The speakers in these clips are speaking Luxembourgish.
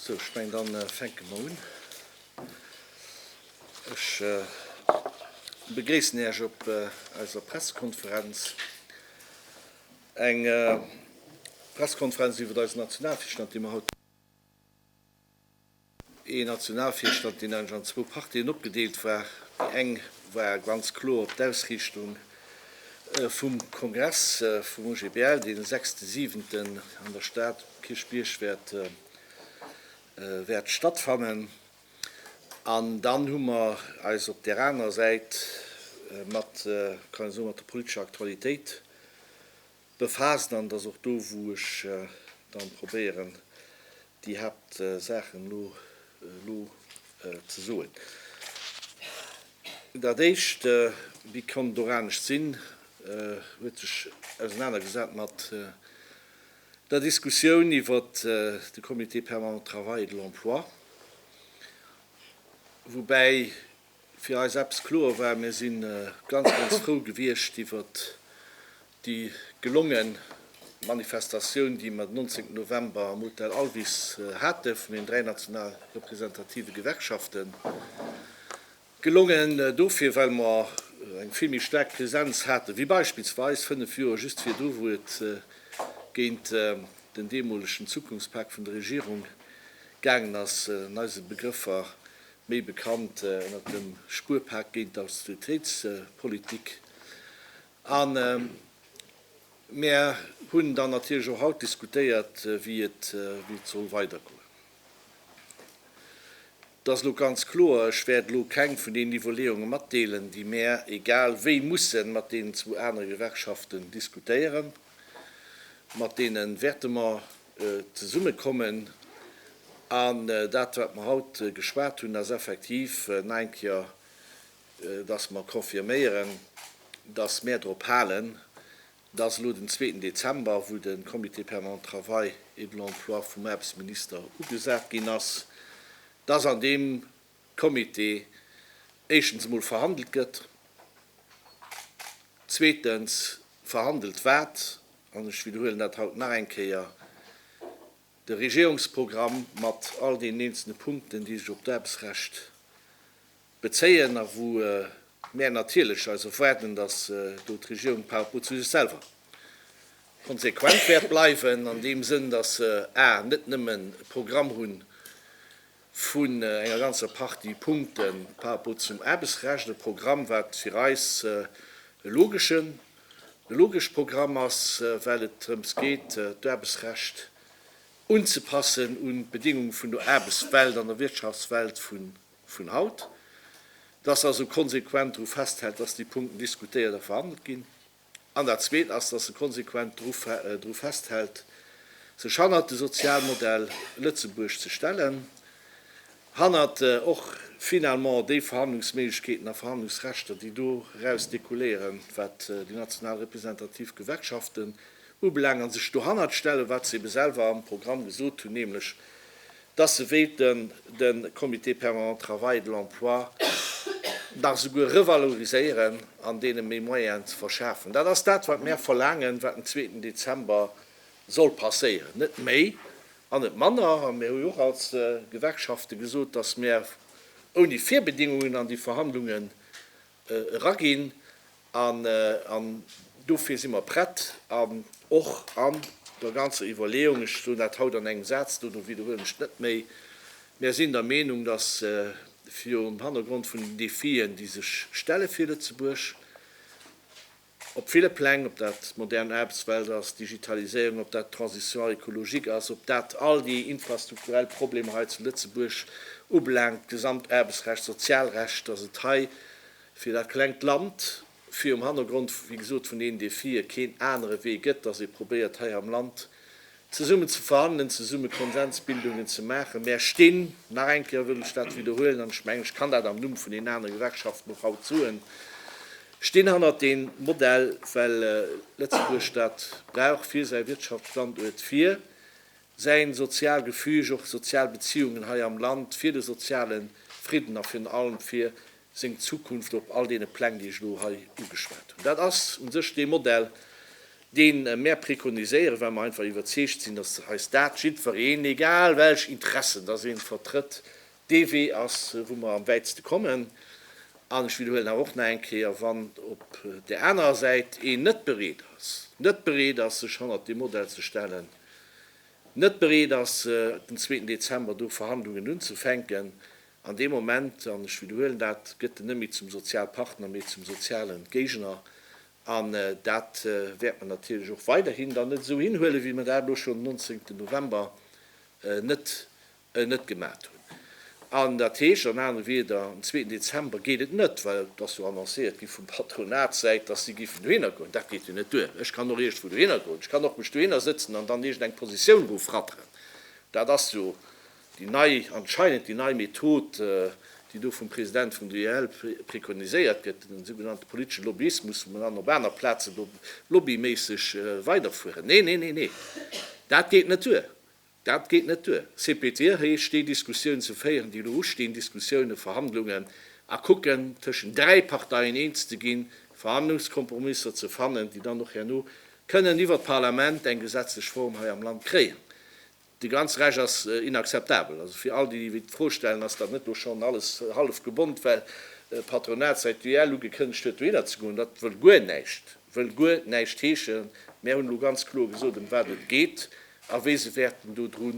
Sou, ech meng dann fänke mer un. Ech begréissen Iech op eiser Pressekonferenz. Eng Pressekonferenz iwwert eisen Nationalvischnat, dee mer haut. Ee Nationalvirstand, deen eigentlech an zwou Partien opgedeelt war. Déi eng war ganz kloer op d'Ausriichtung vum Kongress vum OGBL, deen e sechste siwenten an der Stad um Kierchbierg wäert stattfannen. An dann hu mer eis op där anerer Säit mat, kann ee soen, mat der politescher Aktualitéit befaassen an et ass och do wou ech dann probéieren déi Haaptsaachen elo ze soen. Dat éischt, wéi konnt et och anescht sinn, huet sech ausenanergesat mat der Diskussioun iwwer de Comité permanent travail et de l'emploi, woubäi fir eis eppes kloer war, Mir si ganz, ganz frou gewiescht iwwert déi gelongen Manifestatioun, déi mer den 19 November am Hotel Alvis hate vun den dräi national representative Gewerkschaften. Gelongen dofir, well mer eng vill méi staark Präsenz hate wéi beispillsweis fënnef Joer just virdru, wou et géint den deemolegen Zukunftspak vun der Regierung gaangen ass, an eise Begrëffer méi bekannt ënnert dem Spuerpak géint d'Austeritéitspolitik, a mär hunn dann natierlech och haut diskutéiert, wéi et soll weidergoen. Et ass elo ganz kloer, ech wäert elo keng vun deenen Iwwerleeunge matdeelen, déi mär egal wéi musse mat deenen zwou anere Gewerkschaften diskutéieren, mat deene wäerte mer Zesummekommen. An dat, wat mer haut geschwat hunn, ass effektiv nai Kéier, dass mer confirméieren, dass mer drop halen, dass elo den zweeten Dezember, wou de Comité permanent travail et de l'emploi vum Aarbechtsminister ugesat ginn ass, dass an deem Comité éischtens emol verhandelt gëtt, zweetens verhandelt wat, an ech widderhuelen dat haut nach eng Kéier, de Regierungsprogramm mat all deenen eenzelne Punkten, déi sech op d'Aarbechtsrecht bezéien a wou mär natierlech eis erwaarden, dass do d'Regierung par rapport zu sech selwer konsequent wäert bleiwen, an deem Sënn, dass se a net nëmmen e Programm hunn, vun enger ganzer Partie Punkte par rapport zum Aarbechtsrecht, e Programm, wat fir eis e logeschen, e logescht Programm ass, well et drëms geet, d'Aarbechtsrecht unzepassen un d'Bedéngung vun der Aarbechtswelt an der Wirtschaftswelt vun haut, dass also konsequent dru festhält, dass déi Punkten diskutéiert a verhandelt ginn. An dat Zweet ass, dass se konsequent dru festhält, sech hannert de Sozialmodell Lëtzebuerg ze stellen, hannert och finalement déi Verhandlungsméiglechkeeten a Verhandlungsrechter, déi doraus dekouléieren, wat déi national representativ Gewerkschaften ubelaangt, a sech dohannert stellen, wat se ebe selwer am Programm gesot hunn, nämlech dass se wéilten de Comité permanent de travail et de l'emploi nach esouguer revaloriséieren an deene méi Moyenen ze verschafen. Dat ass dat, wat mär verlaangen, wat den zweeten Dezember soll passéieren, net méi an net manner. A mir hu jo och als Gewerkschafte gesot, dass mär ouni Virbedingungen an déi Verhandlunge eraginn an dofir si mer prett an och an der ganzer Iwwerleeung, ech soen dat haut an engem Saz, dono widderhuelen ech et net méi, mär sinn der Meenung, datt virum Hannergrond vun den Défien, déi sech stelle fir Lëtzebuerg, Op ville Pläng, ob dat d'modern Aarbechtswelt ass, d'Digitaliséierung, ob dat d'Transition écologique ass, ob dat all déi infrastrukturell Problemer hei zu Lëtzebuerg ubelaangt, d'gesamt Aarbechtsrecht, d'Sozialrecht, dass et hei fir dat klengt Land, fir um Hannergrond, wéi gesot, vun deenen Défië keen anere Wee gëtt, dass ee probéiert hei am Land Zesummen ze verhandelen, zesumme Konsensbildungen ze maachen. Mär stinn, nach eng Kéier wëll ech dat widderhuelen, an ech mengen, ech kann dat am Numm vun deenen anere Gewerkschaften och haut soen, stinn hannert deem Modell, well Lëtzebuerg dat brauch fir säi Wirtschaftsstanduert, fir säi sozial Gefüge, och sozial Beziehungen hei am Land, fir de soziale Fridden a virun allem fir seng Zukunft op all deene Pläng, déi ech elo hei ugeschwat hunn. Dat ass u sech dee Modell, dee mär préconiséieren, well mer einfach iwwerzeegt sinn, dass eis dat jiddwereen, egal welch Interessen dass ee vertrëtt, dee Wee ass, wou mer am wäitste kommen. An ech widderhuelen awer och nach eng Kéier, wann op där anerer Säit een net bereet ass, net bereet ass, sech hannert dee Modell ze stellen, net bereet ass, den zweeten Dezember do Verhandlungen unzufänken, An dee Moment, an ech widderhuelen dat, gëtt en net méi zum Sozialpartner, mee zum soziale Géigner. An dat wäert mer natierlech och weiderhin dann net esou hinhuelen, wéi mer dat elo schonn den nonzéngten November net net gemat hunn. An dat heescht an anere Wieder, en zweeten Dezember geet et net, well et ass jo annoncéiert gi vum Patronatssäit, dass si giffen dohinner goen. Dat geet jo net duer. Ech kann och iergendwou dohinner goen, ech kann och mech dohinner sëtzen an dann iergendeng Positioun erofrapperen. Dat ass jo Déi nei, anscheinend déi nei Method, déi do vum President vum DEL prekoniséiert gëtt, den sougenannte politesche Lobbyismus, wou mer dann op aner Plazen do lobbyméisseg weiderfueren, nee, nee, nee, nee, dat geet net duer, dat geet net duer. CPT heescht, déi Diskussioun ze féieren, déi elo ustinn, Diskussiounen, Verhandlungen, a kucken, tëschent dräi Parteien eens ze ginn, Verhandlungskompromisser ze fannen, déi dann och herno kënnen iwwert d'Parlament eng gesetzlech Form hei am Land kréien. Déi ganz Rech ass inakzeptabel. Also fir all déi, déi d'Fro stellen, ass dat net do schonn alles hallef gebonnt, well d'Patronat säit d'UEL ugekënnegt huet, dohinner ze goen? Dat wëll guer näischt, wëll guer näischt heeschen. Mär hunn elo ganz kloer gesot, ëm wat et geet a wéi se wäerten dodru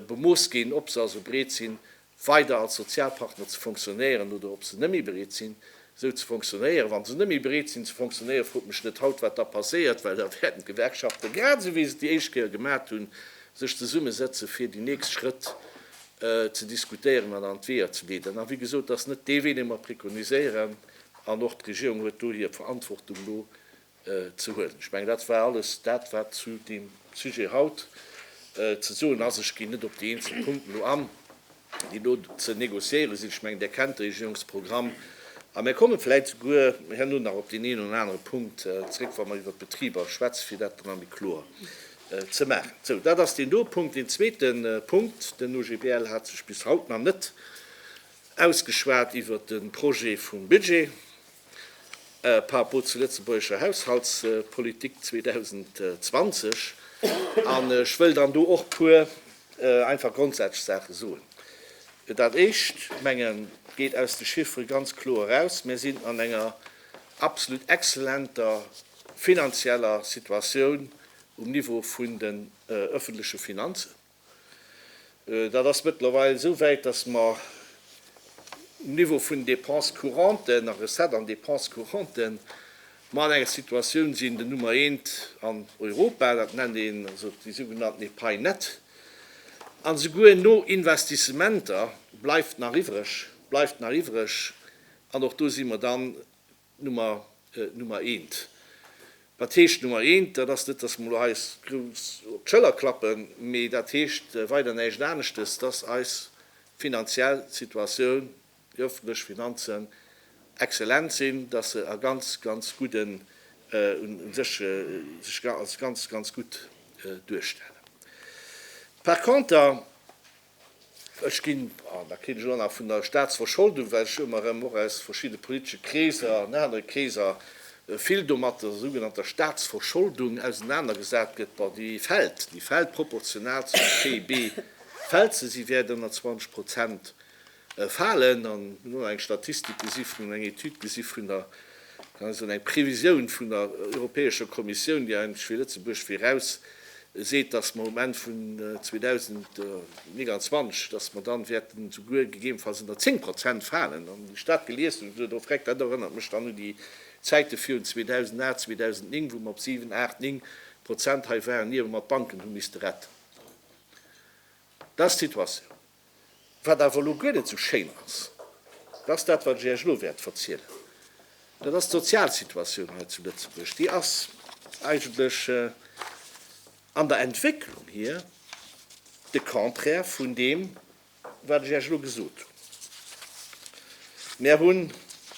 bemooss ginn, ob se also bereet sinn, weider als Sozialpartner ze fonctionnéieren oder ob se net méi bereet sinn, esou ze fonctionnéieren. Wa se net méi bereet sinn, ze fonctionnéieren, frot mech net haut, wat da passéiert, well da wäerten d'Gewerkschaften, grad esou wéi se et déi éischt Kéier gemat hunn, sech zesummesetzen, fir déi nächst Schrëtt ze diskutéieren an an d'Weeër ze leeden. A wéi gesot, et ass net dee Wee, dee mer préconiséieren, an och d'Regierung huet do hir Verantwortung elo. ze huelen. Ech mengen, dat war alles dat, wat zu deem Sujet haut ze soen ass. Ech ginn net op déi eenzel Punkten elo an, déi elo ze négociéiere sinn. Ech mengen, Der kennt de Regierungsprogramm. A mir komme vläicht souguer herno nach op deen een oder anere Punkt zréck, wa mer iwwert d'Betriber schwätzen, fir dat dann nach méi kloer ze maachen. Sou, dat ass deen do Punkt. Deen zweete Punkt, Den OGBL hat sech bis haut nach net ausgeschwat iwwert de Projet vum Budget. par rapport zur lëtzebuergescher Haushaltspolitik 2020. An ech wëll dann do och puer einfach grondsätzlech Saache soen. Dat Éischt, mengen, geet aus de Chiffere ganz kloer eraus, Mir sinn an enger absolut exzellenter finanzieller Situatioun um Niveau vun den öffentleche Finanzen. Dat ass mëttlerweil esou wäit, dass mer um Niveau vun Dépenses couranten a Recettes an Dépenses couranten mer an enger Situatioun sinn, den Nummer eent an Europa, dat nennt een also déi sougenannten Epai net, an esouguer no Investissementer bleift nach iwwreg, bleift nach iwwreg, an och do si mer dann, Nummer, Nummer eent. Wat heescht Nummer eent? Dat ass net, dass mer elo hei eis grouss op d'Schëller klappen, mee dat heescht weider näischt aneschtes, dass eis finanziell Situatioun, déi öffentlech Finanzen exzellent sinn, dass se a ganz, ganz gudden, un sech, sech als ganz, ganz gutt duerstellen. Par conter. Ech ginn, an da kritt ech elo nach vun der Staatsverscholdung, well ech ëmmer erëm och aus verschidde politesche Kreeser an anere Kreeser vill do mat der sougenannter Staatsverscholdung ausenanergesat gëtt, bon, déi fält, déi fält proportional zum PIB fält se, si wäert ënner 20 Prozent falen an elo eng Statistik gesi vun an eng Etüd gesi vun der, kann ech soen, eng Previsioun vun der Europäescher Kommissioun, déi eigentlech fir Lëtzebuerg viraus seet, dass mer um Enn vun 2029, dass mer dann wäerten souguer gegebenfalls ënner 10 Prozent falen. An wéi ech dat gelies hunn, hu ech gesot, oh Vreck, dat erënnert mech dann u déi Zäite virun 2008, 2009, wou mer op 7, 8, 9 Prozent hei waren, ier mer d'Banken hu misste retten. Dat ass d'Situatioun. Wat awer elo guer net esou schéin ass, dat ass dat, wat ech Iech elo wäert verzielen. Dat ass d'Sozialsituatioun hei zu Lëtzebuerg. Déi ass eigentlech an der Entwécklung hier de Contraire vun deem, wat ech Iech elo gesot hunn. Mär hunn,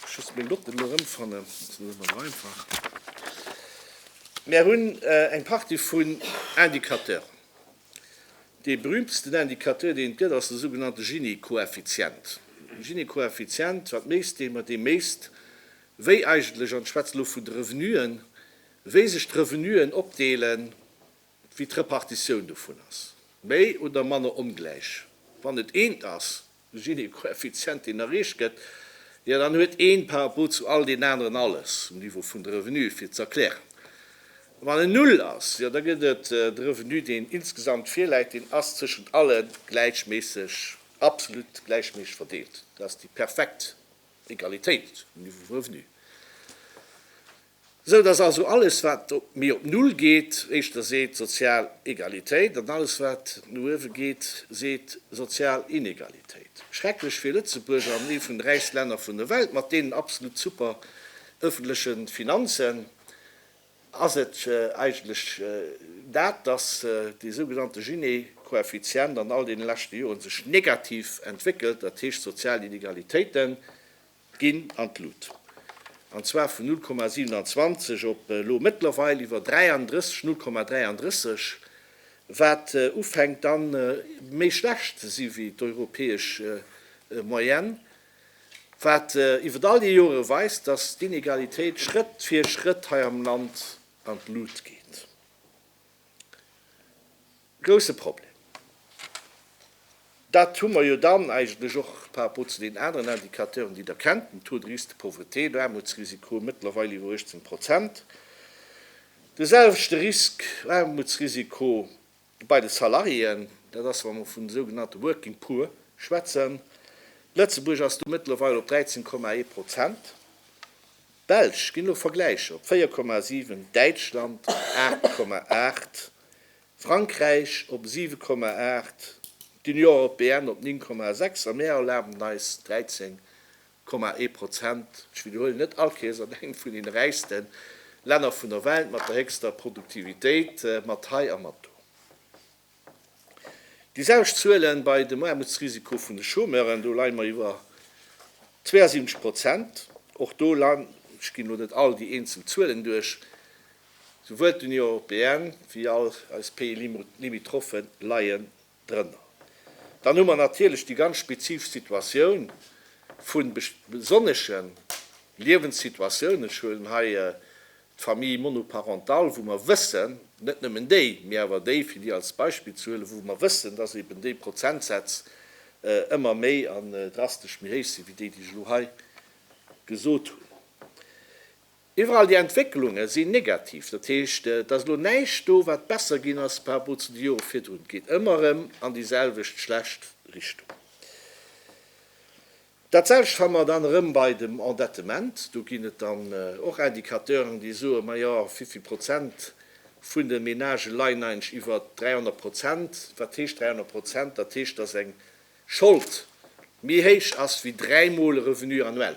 ech muss meng Notten elo erëmfannen, dat ass net ëmmer esou einfach, mär hunn eng Partie vun Indicateuren, Dee berüümtesten Indicateur, deen et gëtt, ass de sougenannte Gini-Koeffizient. De Gini-Koeffizient, wat méisst dee? Ma dee méisst, wéi eigentlech, an ech schwätze elo vun de Revenuen, wéi sech d'Revenuen opdeelen, wéi d'Repartitioun dovun ass, méi oder manner ongläich. Wann et eent ass, De Gini-Koeffizient, deen erreecht gëtt, jo, dann huet een par rapport zu all den aneren alles um Niveau vun de Revenue fir z'erklären. A wann en Null ass, jo, da gëtt et de Revenu, deen insgesamt virläit, deen ass tëschent alle gläichméisseg, absolut gläichméisseg verdeelt. Dat ass déi perfekt Egalitéit um Niveau vum Revenu. Esou datt also alles wat méi op Null geet, éischter seet sozial Egalitéit, an alles wat no uewe geet, seet sozial Inegalitéit. Schrecklech fir Lëtzebuerg an ee vun de räichste Länner vun der Welt mat deenen absolut super ëffentleche Finanzen ass et eigentlech dat, datt dee sougenannte Gini-Koeffizient an all deene leschte Joren sech negativ entwéckelt, dat heescht sozial Inegalitéiten ginn an d'Lut, an zwar vun 0,27 op elo mëttlerweil iwwer 33, 0,33, wat ufänkt dann méi schlecht ze si wéi d'europäesch Moyenne, wat iwwert all déi Jore weist, dass d'Inegalitéit Schrëtt fir Schrëtt hei am Land an d'Lut geet. Grousse Problem. Dat hu mer jo dann eigentlech och par rapport zu deenen aneren Indicateuren, déi Der kennt, den Taux de risque de pauvreté, den Aarmutsrisiko, mëttlerweil iwwer 18 Prozent, de selwechte Risk, Aarmutsrisiko, bei de Salariéen. Dat ass, wa mer vun sougenannte working poor schwätzen. Lëtzebuerg ass do mëttlerweil op 13,1 Prozent. D'Belsch ginn elo Vergläicher op 4,7, Däitschland 8,8. Frankräich op 7,8, d'Union européenne op 9,6 a mär erlaben eis 13,1 Prozent, ech widderhuelen, net all Keess, an engem vun den räichste Länner vun der Welt mat der héchster Produktivitéit mat hei a mat do. Déi selwecht Zuele bei dem Aarmutsrisiko vun de Chômeuren, do leie mer iwwer 72 Prozent. Och do, ech ginn elo net all déi eenzel Zuelen duerch, Souwuel d'Union européenne wéi all eis Pays limitrophe leien drënner. Dann hu mer natierlech déi ganz spezifesch Situatioun vu besonnesche Liewenssituatiounen. Ech huelen hei d'Famille monoparentale, wou mer wëssen, net nëmmen déi, mee awer déi, fir déi als Beispill ze huelen, wou mer wëssen, dass eeben déi Prozentsätz ëmmer méi an drastesch méi héich sinn, wéi déi, déi ech elo hei gesot hunn. Iwwerall déi Entwécklunge sinn negativ, dat heescht, et ass elo näischt do, wat besser ginn ass par rapport zu de Jore virdrun. Et geet ëmmer erëm an déi selwecht schlecht Richtung. Dat selwecht fanne mer dann erëm bei dem Endettement. Do ginn et dann och Indicateuren, déi soen, majo, vivill Prozent vun de Menagë leien eigentlech iwwer 300 Prozent. Wat heescht 300 Prozent? Dat heescht, dass eng Schold méi héich ass wéi dräimol e Revenu annuel.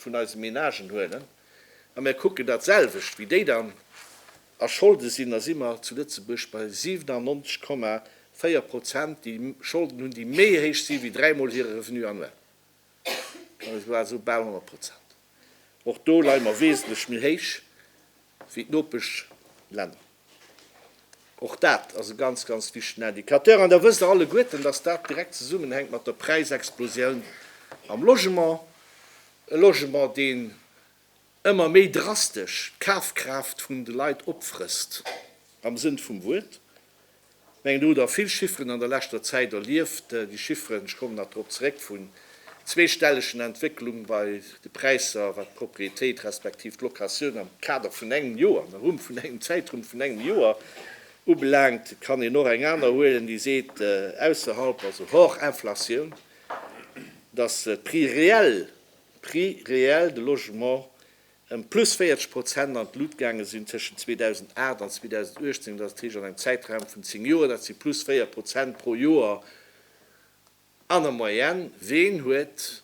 vun eise Menagen huelen a mir kucken dat selwecht wéi déi dann a Scholde sinn, da si mer zu Lëtzebuerg bei 97,4 Prozent déi Scholden hunn, déi méi héich si wéi dräi Mol hire Revenu annuel, also bal 100 Prozent. Och do leie mer wesentlech méi héich wéi d'Nopeschlänner. Och dat ass e ganz, ganz wichtegen Indicateur. An da wësst Der alleguerten, dass dat direkt zesummenhänkt mat der Präisexplosioun am Logement. E Logement, deen ëmmer méi drastesch d'Kafkraaft vun de Leit opfrësst, am Sënn vum Wuert. Ech mengen, do hutt Der vill Chifferen an der leschter Zäit erlieft. Déi Chifferen, ech kommen nach drop zeréck, vun zweestellegen Entwécklung bei de Präisser, wat d'Propriétéit respektiv d'Locatioun am Kader vun engem Joer, am Rumm vun engem Zäitrumm vun engem Joer ubelaangt, kann een och eng aner huelen, déi seet, ausserhalb, also hors Inflatioun, dass d'Prix réels, d'Prix réels de logement ëm plus 40 Prozent an d'Lut gaange sinn tëschent 2008 an 2018, dat ass d'Heescht an engem Zäitraum vun zéng Joer, dat si plus véier Prozent pro Joer an der Moyenne. Ween huet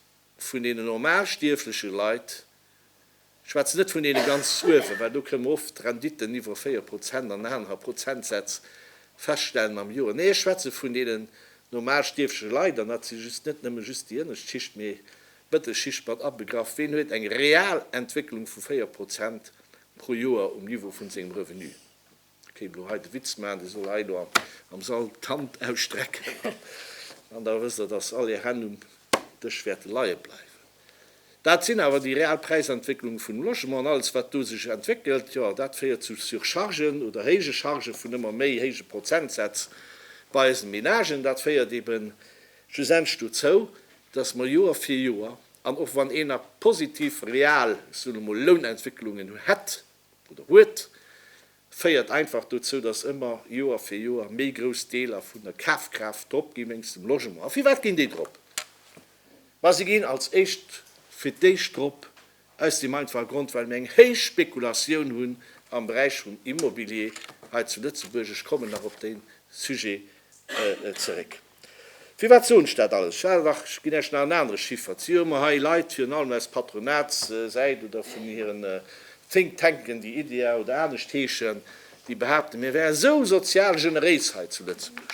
vun deenen normalstierfleche Leit, ech schwätzen net vun deene ganz uewen, well do kënne mer oft Renditten iwwer véier Prozent an aner Prozentsätz feststellen am Joer, nee ech schwätze vun deenen normalstierfleche Leit, an dat si just net nëmme just déi ënnescht Schicht, mee Mëttelschicht mat abegraff, ween huet eng real Entwécklung vu 4 Prozent pro Joer um Niveau vun sengem Revenu? Ech kéint elo hei de Witz maachen, dee soll hei elo am Sall d'Hand ausstrecken an da wësst der, dass all är Hänn um Dësch wäerte leie bleiwen. Dat sinn awer déi real Präisentwécklung vun Logement an alles wat do sech entwéckelt, jo dat féiert zu Surchargen oder héije Charge vun ëmmer méi héije Prozentsätz bei eisen Ménagen. Dat féiert eben Schlussendlech dozou, dass mer Joer fir Joer, an och wann een a positiv real, ech soen emol, Lounentwécklungen hätt oder huet, féiert einfach dozou, dass ëmmer Joer fir Joer méi grouss Deeler vun der Kafkraaft drop ginn wéinst dem Logement. A firwat ginn déi drop? Ma se ginn als éischt fir d'éischt drop, Aus deem einfache Grond, well mir eng héich Spekulatioun hunn am Beräich vum Immobilier hei zu Lëtzebuerg. Ech kommen nach op dee Sujet zeréck. Firwat soen ech dat alles? Well, dach, ech ginn Iech nach en anere Chiffer. Et si jo ëmmer hei Leit, virun allem aus Patronatssäit oder vun hiren Think Tanken, déi IDEA oder anescht heeschen, déi behaapten, mir wäre sou sozial generéis hei zu Lëtzebuerg.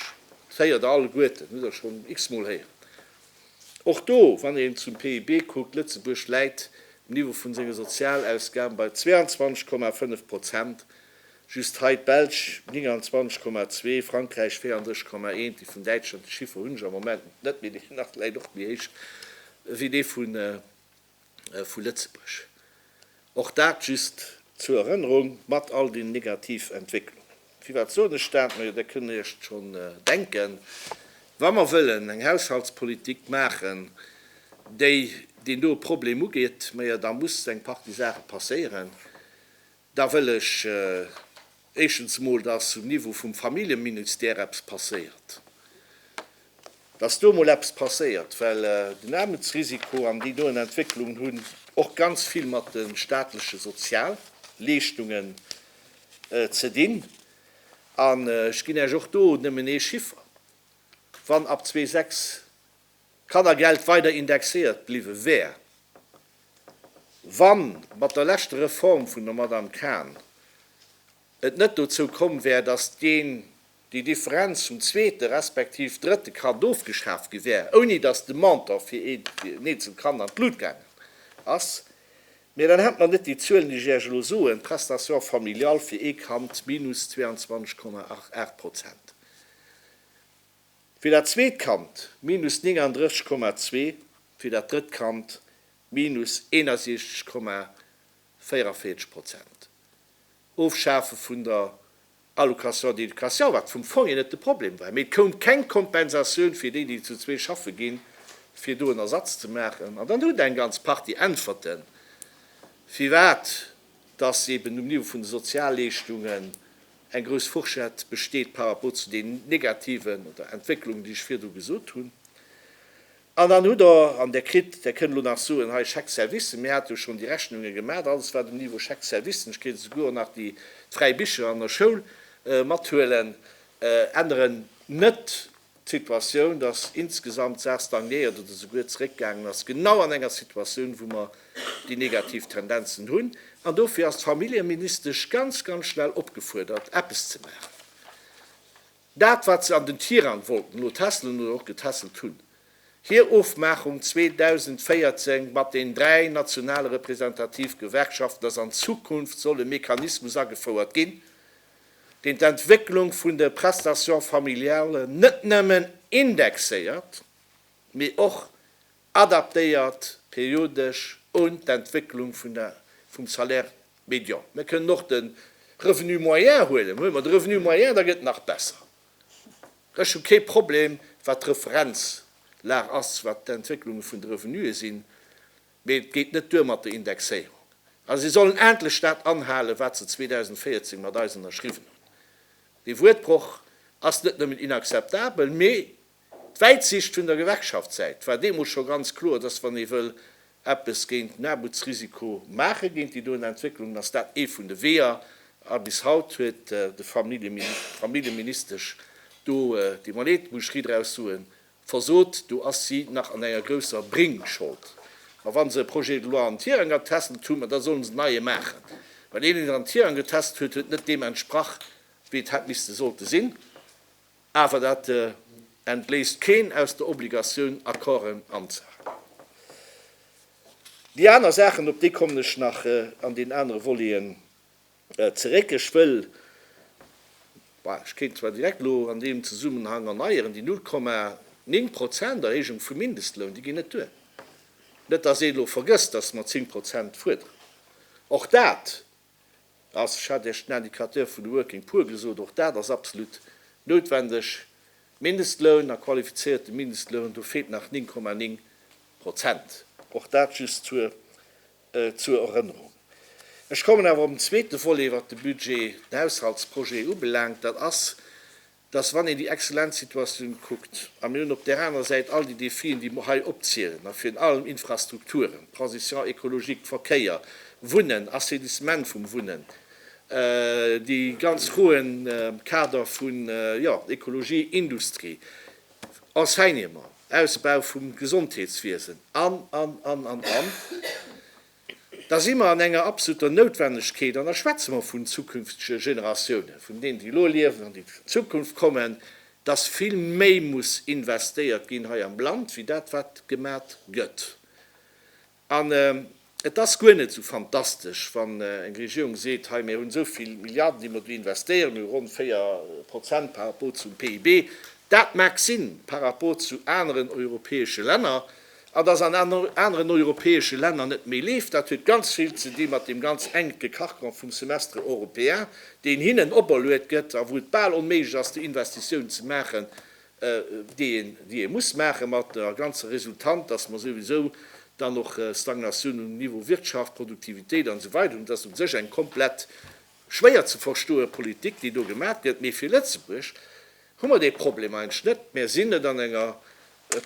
Dat héiert Der alleguerten, hutt Der schonn x-mol héieren. Och do, wann een zum PIB kuckt, Lëtzebuerg läit um Niveau vu senge Sozialausgaben bei 22,5 Prozent, just hei d'Belsch, 29,2, Frankräich, 34,1. Déi vun Däitschland, déi Chiffer hunn ech am Moment net, mee deen ass vläicht och méi héich ewéi dee vun. vu Lëtzebuerg. Och dat just zur Erënnerung, mat all den negativ Entwécklungen. Firwat soen ech dat? Majo, Der kënnt Iech et schonn denken, Wa mer wëllen eng Haushaltspolitik maachen, déi deen doe Problem ugeet, majo da muss eng Partie Saache passéieren, Da wëll ech éischtens emol, dass um Niveau vum Familljeminustère eppes passéiert, dass do emol eppes passéiert, well den Aarmutsrisiko an déi doen Entwécklungen hunn och ganz vill mat de staatleche Sozialleeschtungen ze dinn. An ech ginn Iech och do nëmmen ee Chiffer, Wann ab zwee sechs D'Kannergeld weider indexéiert bliwwe wär, wann mat der leschter Reform vun der Madame Kahn et net dozou komm wär, dass d'gén déi Differenz vum zweete respektiv drëtte Kand ofgeschaaft gi wär, ouni dass de Montant fir een eenzelt Kand an d'Lut gaangen ass. Mä dann hätt mer net déi Zuelen, déi ech Iech elo soen, d'Prestation familiale fir ee Kand minus 22,88 Prozent, Fir dat zweet Kand, minus 39,2, fir dat drëtt Kand, minus 61,44 Prozent. Ofschafe vun der Allocation d'éducation, wat vum Fong hier net de Problem war, mee et koum keng Kompensatioun fir déi, déi zu zwee schaffe ginn, fir do en Ersatz ze maachen. An dann hutt eng ganz Partie Äntwerten, firwat dass eben um Niveau vun de Sozialleeschtungen Eng grouss Fourchette besteet par rapport zu den negativen oder Entwécklungen, déi ech virdru gesot hunn. An dann hutt Der, an Der kritt, Der kënnt elo nach soen, hei Chèques-services, mir hate jo schonn déi Rechnunge gemaach, alles wat um Niveau Chèques-services, ech kéint esouguer och nach déi fräi Bicher an der Schoul mathuelen, änneren, net D'Situatioun, dass insgesamt d'Saach stagnéiert oder souguer zeréckgaangen ass, genau an enger Situatioun, wou mer déi negativ Tendenzen hunn. An dofir ass d'Familljeministesch ganz, ganz schnell opgefuerdert, eppes ze maachen. Dat, wat se an den Tirang wollten notässelen oder och getässelt hunn, hir Ofmaachung 2014 mat den dräi nationale representativ Gewerkschaften, dass an Zukunft soll e Mechanismus agefouert ginn, deen d'Entwécklung vun de Prestations familiales net nëmmen indexéiert, mee och adaptéiert periodesch un d'Entwécklung vun der, vum Salaire médian. Mir kënnen och de Revenu moyen huelen. Huele mer de Revenu moyen, da gëtt et nach besser. Ech hu kee Problem, wat d'Referenzlag ass, wat d'Entwécklunge vun de Revenue sinn. Mee et geet net duer mat der Indexéierung. A si sollen endlech dat anhalen, wat se 2014 mat eis ënnerschriwwen hunn. Dee Wuertbroch ass net nëmmen inakzeptabel, mee d'Wäitsicht vun der Gewerkschaftssäit war deemools scho ganz kloer, dass wann ee wëll eppes géint den Aarmutsrisiko maachen, géint déi doen Entwécklungen, dass dat ee vun de Weeër a bis haut huet de Familljeministesch do déi Monnaie, d'Boucherie draus soen, Versot, do ass si nach an enger grousser Bréngschold. Ma wa se e Projet de loi an Tirang getesselt hunn, ma da sollen se en neie maachen. Well een, deen en an Tirang getesselt huet, huet net deem entsprach, wéi et hätt misste sollte sinn. Awer dat entbléisst keen aus der Obligatioun, Accorden anzehalen. Déi aner Saachen, op déi kommen ech nach an deenen anere Voleten Zeréck, ech wëll, bah, ech kéint zwar direkt elo an deem Zesummenhang erneieren, déi 0,9 Prozent Erhéijung vum Mindestloun, déi ginn net duer. Net, dass een elo vergësst, dass mer 10 Prozent fuerderen. Och dat ass, ech hat Iech den Indicateur vun de Working Poor gesot, och dat ass absolut noutwendeg. Mindestloun a qualifizéierte Mindestloun, do feelt nach 9,9 Prozent. Och dat just zur. Zur Erënnerung. Ech kommen awer op den zweete Volet, wat de Budget, den Haushaltsprojet ubelaangt. Dat ass, dass, wann een déi exzellent Situatioun kuckt, a mir hunn op där anerer Säit all déi Défien, déi mer hei opzielen, a virun allem Infrastrukturen, Transition écologique, Verkéier, Wunnen, Assainissement vum Wunnen, déi ganz Froen am Kader vun, jo, Ekologie, Industrie, Enseignement, Ausbau vum Gesondheetswiesen an, an, an, an, an, da si mer an enger absoluter Noutwennegkeet an da schwätze mer vun zukünftege Generatiounen, vun deenen, déi elo liewen an déi an Zukunft kommen, dass vill méi muss investéiert ginn hei am Land wéi dat wat gemat gëtt. An et ass guer net esou fantastesch, wann eng Regierung seet, hei mir hunn esou vill Milliarden, déi mer do investéieren, hu ronn 4 Prozent par rapport zum PIB. Dat mag sinn par rapport zu aneren europäesche Länner. An dass an aneren europäesche Länner net méi leeft, dat huet ganz vill ze di mat deem ganz enke Carcan vum Semestre européen, deen hinnen operluet gëtt a wou et bal onméiglech ass, déi Investitiounen ze maachen, déi ee muss maachen, mat der ganzer Resultant, dass mer souwisou dann och Stagnatioun um Niveau Wirtschaft, Produktivitéit an esou weider hunn. Et ass u sech eng komplett schwéier ze verstoe Politik, déi do gemaach gëtt, mee fir Lëtzebuerg hu mer dee Problem eigentlech net. Mer sinn net an enger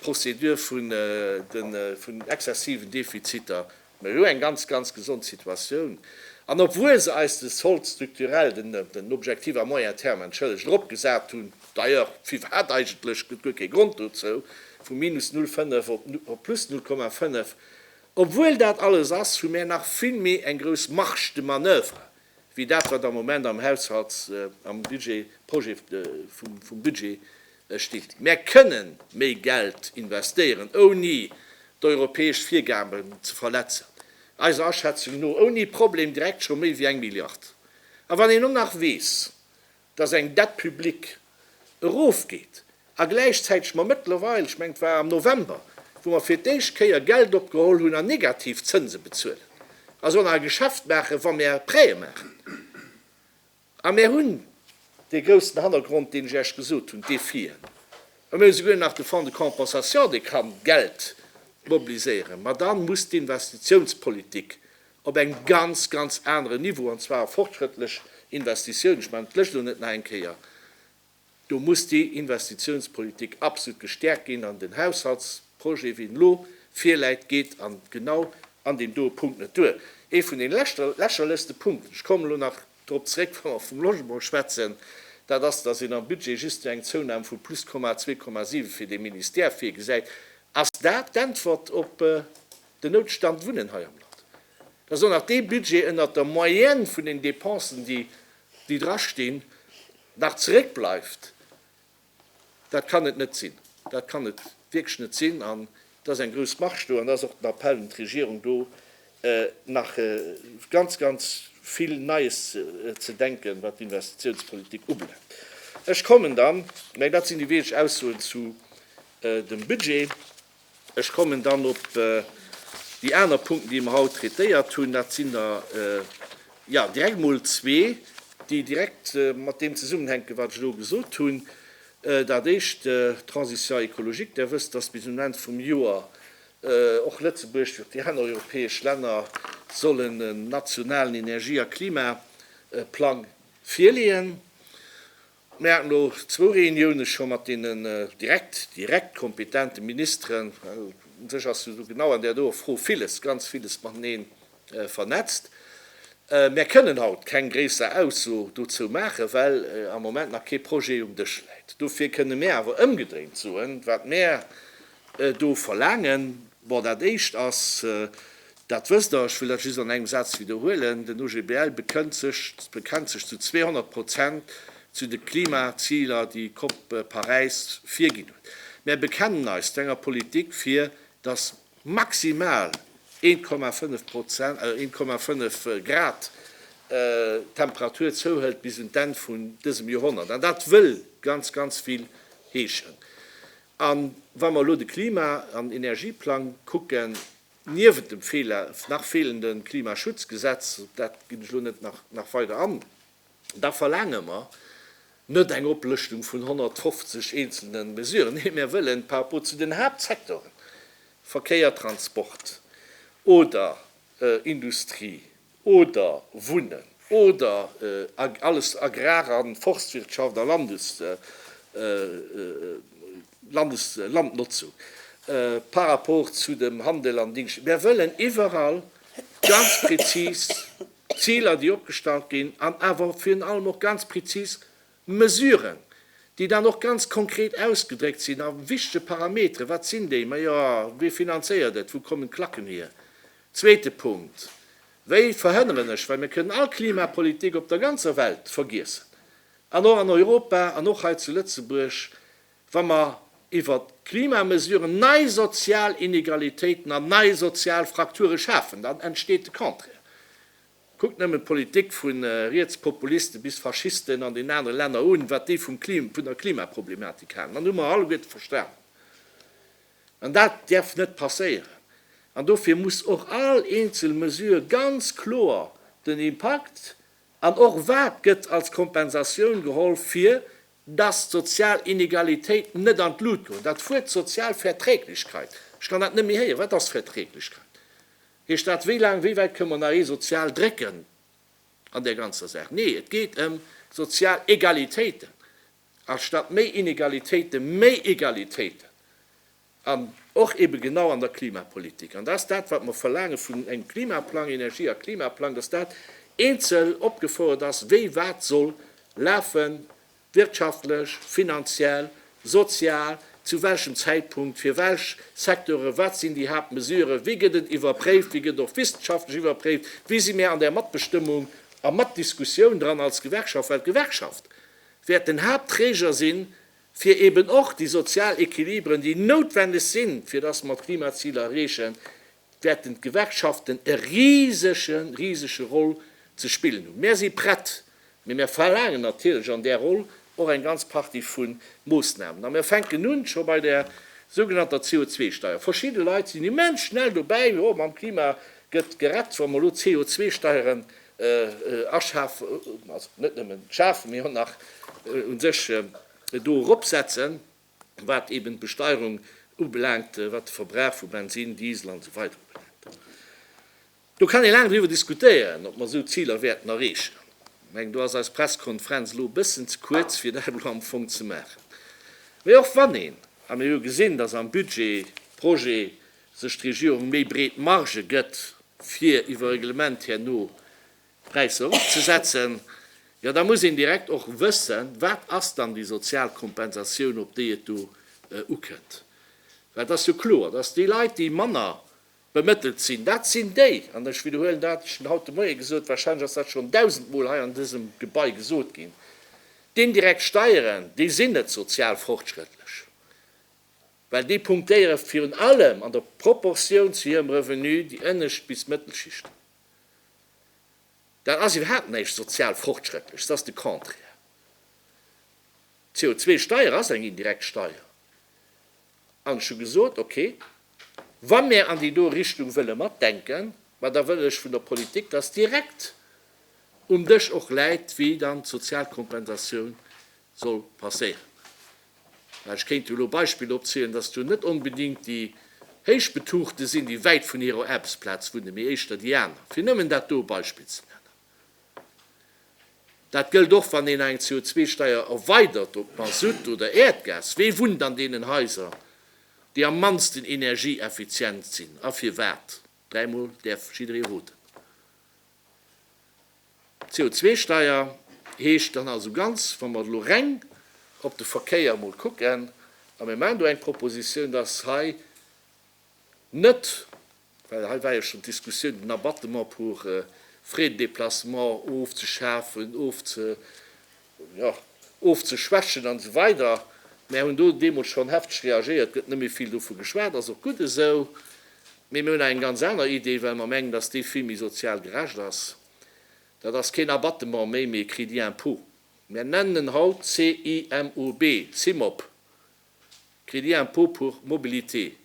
Procédure vun exzessiven Defiziter Mir hu eng ganz, ganz gesond Situatioun, an obwuel se eis de Solde structurel, den Objectif à moyen terme, entschëllegt, eropgesat hunn, d'ailleurs, firwat eigentlech, gëtt guer kee Grond dozou, vu minus 0,5 op plus 0,5, obwuel dat alles ass, hu mir nach vill méi eng grouss Marge de manoeuvre wéi dat, wat am Moment am Haushalts-, am Budget, Projet vum Budget E Stift. Mär kënnen méi Geld investéieren, ouni d'europäesch Virgaben ze verletzen, eiser Aschätzung no ouni Problem direkt scho méi wéi eng Milliard. A wann een elo nach weess, dass eng Dette publique erofgeet a gläichzäiteg mer mëttlerweil, ech mengen et war am November, wou mer fir d'éischt Kéier Geld opgeholl hunn an negativ Zënse bezuelen, also an eise Geschäft maachen, wa mär Prêtë maachen, A mir hunn dee groussen Hannergrond, deen ech Iech gesot hunn, dee Fien. A mir hu souguer nach de Fonds de compensation, dee ka Geld mobiliséieren. Mä da muss d'Investitiounspolitik op engem ganz, ganz aneren Niveau, an zwar fortschrëttlech Investitiounen, ech man, d'Lëscht elo net nach eng Kéier, Do muss déi Investitionspolitik absolut gestärkt ginn an den Haushaltsprojet, wéi en elo virläit, geet an genau an deem doe Punkt net duer. Ee vun de lächerlechste Punkten, ech kommen elo nach drop zréck, wa mer vum Logement schwätzen, dat ass, dass een am Budget just esou eng Zounahm vu plus 2,7 fir dee Ministère virgesäit. Ass dat d'Äntwert op den Noutstand Wunnen hei am Land? Dat ass och nach dee Budget ënnert der Moyenne vun den Dépensen, déi déi dra stinn, nach zeréckbleift, dat kann et net sinn. Dat kann et wierklech net sinn. An et ass eng grouss Marge do. An da ass och den Appell un d'Regierung do, nach ganz, ganz vill Neies ze denken, wat d'Investitiounspolitik ubelaangt. Ech kommen dann, mä dat sinn déi weëneg Aussoen, zu dem Budget. Ech kommen dann op déi aner Punkten, déi mer haut traitéiert hunn. Dat sinn der, jo, direkt emol zwee, déi direkt mat deem zesummenhänken, wat ech elo gesot hunn. Dat Éischt, d'Transition écologique. Där wësst, dass bis un den Enn vum Joer och Lëtzebuerg, wéi och déi aner europäesch Länner, sollen en nationalen Energie a Klimaplang virleeën. Mir haten elo zwou Reuniounen scho mat deenen direkt, direkt kompetente Ministeren, well u sech ass jo esou genau an där doer Fro viles, ganz viles mateneen vernetzt. Mär kënnen haut keng gréisser Ausso dozou maachen, well am Moment nach kee Projet um Dësch läit. Dofir kënnen mär awer ëmgedréint soen, wat mär do verlaangen. Bon, dat Éischt ass, dat wësst Der, ech wëll dat just an engem Saz widderhuelen, Den OGBL bekënnt sech, bekennt sech zu 200 Prozent zu de Klimaziler, déi d'COP Paräis virginn huet. Mär bekennen eis zu enger Politik, fir dass maximal 1,5 Prozent, 1,5 Grad d'Temperatur zouhëlt bis un d'Enn vun dësem Joerhonnert. An dat wëll ganz, ganz vill heeschen. A wa mer elo de Klima an Energieplang kucken, niewent dem nach feelende Klimaschutzgesetz, op dat ginn ech elo net nach weider an, da verlaange mer net eng Oplëschtung vun 150 eenzelne Mesuren. Nee, mir wëllen par rapport zu den Haaptsectoren, Verkéier, Transport oder Industrie, oder Wunnen oder alles Agrar a Forstwirtschaft a Landeslandnotzung par rapport zu dem Handel an Dingschten. Mär wëllen iwwerall ganz prezis Ziler, déi opgestallt ginn, an awer virun allem och ganz prezis, Mesuren, déi dann och ganz konkret ausgedréckt sinn a wichtege Parametere, wat sinn déi? Majo, wie finanzéiert et? Wou kommen d'Klacken hier? Zweete Punkt, wéi verhënneren ech, well mir kënnen all Klimapolitik op der ganzer Welt vergiessen an och an Europa an och hei zu Lëtzebuerg, wa mer iwwer Klimamesuren nei sozial Inegalitéiten an nei sozial Frakture schafen, dann entsteet de Contraire. Kuckt nëmmen d'Politik vu Rietspopulisten bis Faschisten an den anere Länner un, wat déi vum Klim, vun der Klimaproblematik halen, dann hu mer alleguerte verstanen, an dat därf net passéieren. An dofir muss och all eenzel Mesure ganz kloer den Impakt an och wat gëtt als Kompensatioun geholl, fir dass d'sozial Inegalitéiten net an d'Lut goen. Dat Wuert sozial Verträglichkeit, ech kann dat net méi héieren, wat ass Verträglichkeit? Heescht dat, wéi laang, wéi wäit kënne mer nach ee sozial drécken an där ganzer Saach? Nee, et geet ëm sozial Egalitéiten, anstatt méi Inegalitéite méi Egalitéiten, an och ebe genau an der Klimapolitik. An dat ass dat, wat mer verlaange vun engem Klimaplang, Energie a Klimaplang, dass dat eenzel opgefouert ass, wéi wat soll lafen Wirtschaftlech, finanziell, sozial, zu welchem Zäitpunkt, fir welch Secteure, wat sinn déi Haaptmesuren, wéi gëtt et iwwerpréift, wéi gëtt och wissenschaftlech iwwerpréift, wéi si mir an där Matbestëmmung a Matdiskussioun dran als Gewerkschaft, well d'Gewerkschaft wäert den Haaptträger si fir eeben och déi sozial Equilibren, déi noutwendeg sinn, fir dass mer d'Klimaziler erreechen, wäerten d'Gewerkschaften e risege, risege Roll ze spillen hunn. Mär si prett, mee mär verlaangen natierlech an där Roll och eng ganz Partie vu Moossnamen. A mär fänken un scho bei der sougenannter CO2-Steier. Verschidde Leit sinn immens schnell dobäi, jo, mam Klima gëtt gerett, wa mer elo d'CO2-Steieren aschafen, also net nëmmen schafen, mee och nach u sech do eropsetzen. wat eben d'Besteierung ubelaangt, wat de Verbrauch vu Bensin, Diesel an esou weider ubelaangt. Do kann ee laang driwwer diskutéieren, ob mer esou Ziler wäerten erreechen. Ech mengen, do ass eis Presskonferenz elo e bëssen ze kuerz, fir dat elo am Fong ze maachen. Mee och wann een, a mir hu jo gesinn, dass am Budgetprojet sech d'Regierung méi breet Margë gëtt, fir iwwer Reglement herno Präisser erofzesetzen, jo da muss een direkt och wëssen, wat ass dann déi sozial Kompensatioun, op déi et do ukënnt. Well et ass jo kloer, dass déi Leit, déi manner bemëttelt sinn, dat sinn déi, an ech widderhuelen dat, ech hunn dat haut de Moie gesot, warscheinlech ass dat schonn dausendmol hei an dësem Gebai gesot ginn, d'indirekt Steieren, déi sinn net sozial fortschrëttlech, well déi punktéiere virun allem an der Proportioun zu hirem Revenu déi ënnescht bis Mëttelschichten. Dat ass iwwerhaapt näischt sozial Fortschrëttleches, dat ass de Contraire. D'CO2-Steier ass eng indirekt Steier. An ech hu gesot, okay, wa mir an déi do Richtung wëlle matdenken, ma da wëll ech vun der Politik, dass direkt um Dësch och läit, wéi dann d'sozial Kompensatioun soll passéieren. Ech kéint do elo Beispiller opzielen, dass do net onbedéngt déi Héichbetuchte sinn, déi wäit vun hirer Aarbechtsplaz wunne, mee éischter déi aner, fir nëmmen dat do e Beispill ze nennen. Dat gëllt och, wann een eng CO2-Steier erweidert op Masutt oder Äerdgas. Wie wunnt an deenen Haiser, déi am mannsten energieeffizient sinn a firwat? Dräimol däerf jidderee roten. D'CO2-Steier heescht dann also ganz, wa mer elo reng op de Verkéier emol kucken, a mir maachen do eng Proposition, dass hei net, well hei war jo schonn d'Diskussioun, den Abattement pour frais de déplacement ofzeschafen, ofze, jo, ofzeschwächen an esou weider. Mär hunn do deemools schonn hefteg reagéiert, gëtt net méi vill dovu geschwat, ass och gutt esou. Mee mir hunn eng ganz aner Idee, well mer mengen, datt dee vill méi sozial gerecht ass. Dat ass keen Abattement méi, mee e Crédit impôt. Mär nennen en haut CIMOB, CIMOB, Crédit impôt pour mobilité.